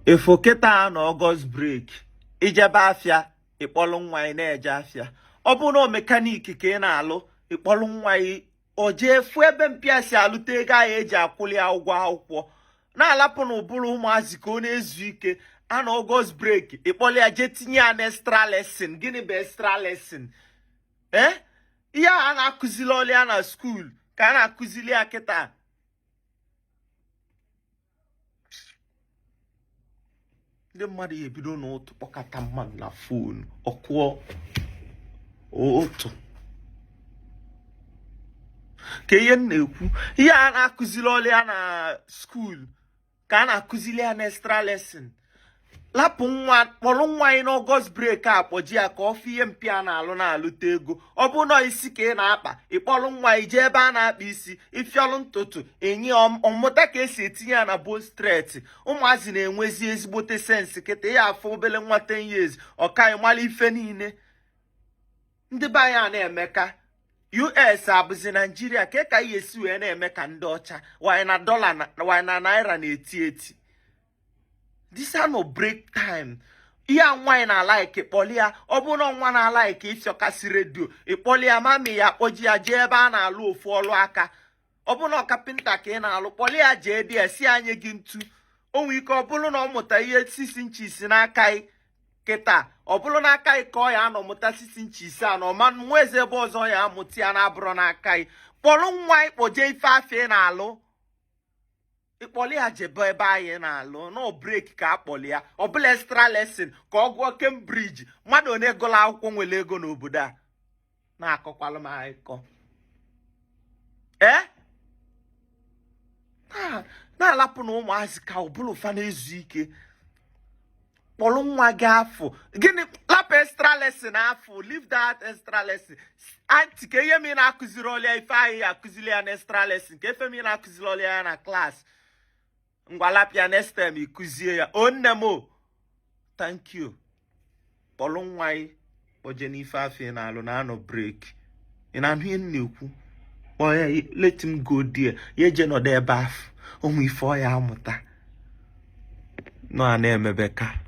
ị fụ kịta a nọ August break i jebe afịa ị kpọlụ nwa ị na-eje afịa ọ bụrụ na mechanic ka ị na-alụ ị kpọlụ nwa ị o jee fụ ebe mpa ya si alụta ego ahụ e ji akwụli ya ụgwọ akwụkwọ na-alapụnụ ụbụrụ ụmụazị ka ọ na-ezu ike a nọ August break ị kpọlụ ya jee tinye ya na extra lesson gịnị bụ extra lesson ee eh? ihe a na-akụzirọlị ya na school ka a na-akụzili ya kịta ndị mmadụ ya ebido n'ụtụtụ kpọkata mmadụ na phone ọ kụọ otu ka ihe m na-ekwu ihe a na-akụzirọlị ya na school ka a na-akụziri ya na extra lesson lapụ nwa kpọlụ nwa ị n'August break a kpọje ya ka ọ fụ ihe mpa ya na-alụ na-alụta ego ọ bụrụ na ọ isi ka ị na-akpa ị kpọlụ nwa ị jee ebe a na-akpa isi ị fịọlụ ntutu nye ọ mụta ka e si etinye ya na bone straight ụmụazị na-enwezi ezigbote sense kịta ị ya afụ obele nwa 10 years ọ ka ị mala ife niile ndị be anyị a na-eme ka US abụzi Nigeria ka ka ihe e si wee na-eme ka ndị ọcha wanyị na dollar wanyị na naira na-eti eti this a nọ break time ihe nwa ị na-alike kpọli ya ọ bụrụ na nwa na-alike ịfịọkasị radio ị kpọli ya mummy ya kpọje ya jee ebe a na-alụ ofu ọlụ aka ọ bụrụ na carpenter ka ị na-alụ kpọli ya jee ị ya asị ya nye gị ntu o nwee ike ọ bụrụ na ọ mụta ihe 6 inches n'aka ị kịta ọ bụrụ n'aka ị ka ọ ya anọ mụta 6 inches na ọ ma nwezi ebe ọzọ ọ ya amụta ya na-abụrọ n'aka ị kpọlụ nwa ị kpọje ife afụ ị na-alụ ị kpọli ya jebe ebe a ị na-alụ a nọ break ka a kpọli ya ọ bụlụ extra lesson ka ọ gụọ Cambridge mmadụ one gụlụ akwụkwọ nwere ego n'obodo a na-akọkwalụ m akụkọ ee na-alapụnụ ụmụazị ka ụbụrụ fa na-ezu ike kpọlụ nwa gị afụ gịnị lapụ extra lesson afụ leave that extra lesson aunty kee ihe mere ị na-akụzirọlị ya ife a ị ya akụziri ya na extra lesson kee ife mere ị na-akụzirọlị ya ya na class ngwa lapụ ya next term ị kụzie ya o nne m o thank you kpọlụ nwa gị kpọje n'ife afụ ị na-alụ na a nọ break ị na-anụ ihe m na-ekwu kpọọ ya let him go there ya eje nọdụ ebe afụ o nwee ife ọ ya amụta unu a na-emebe ka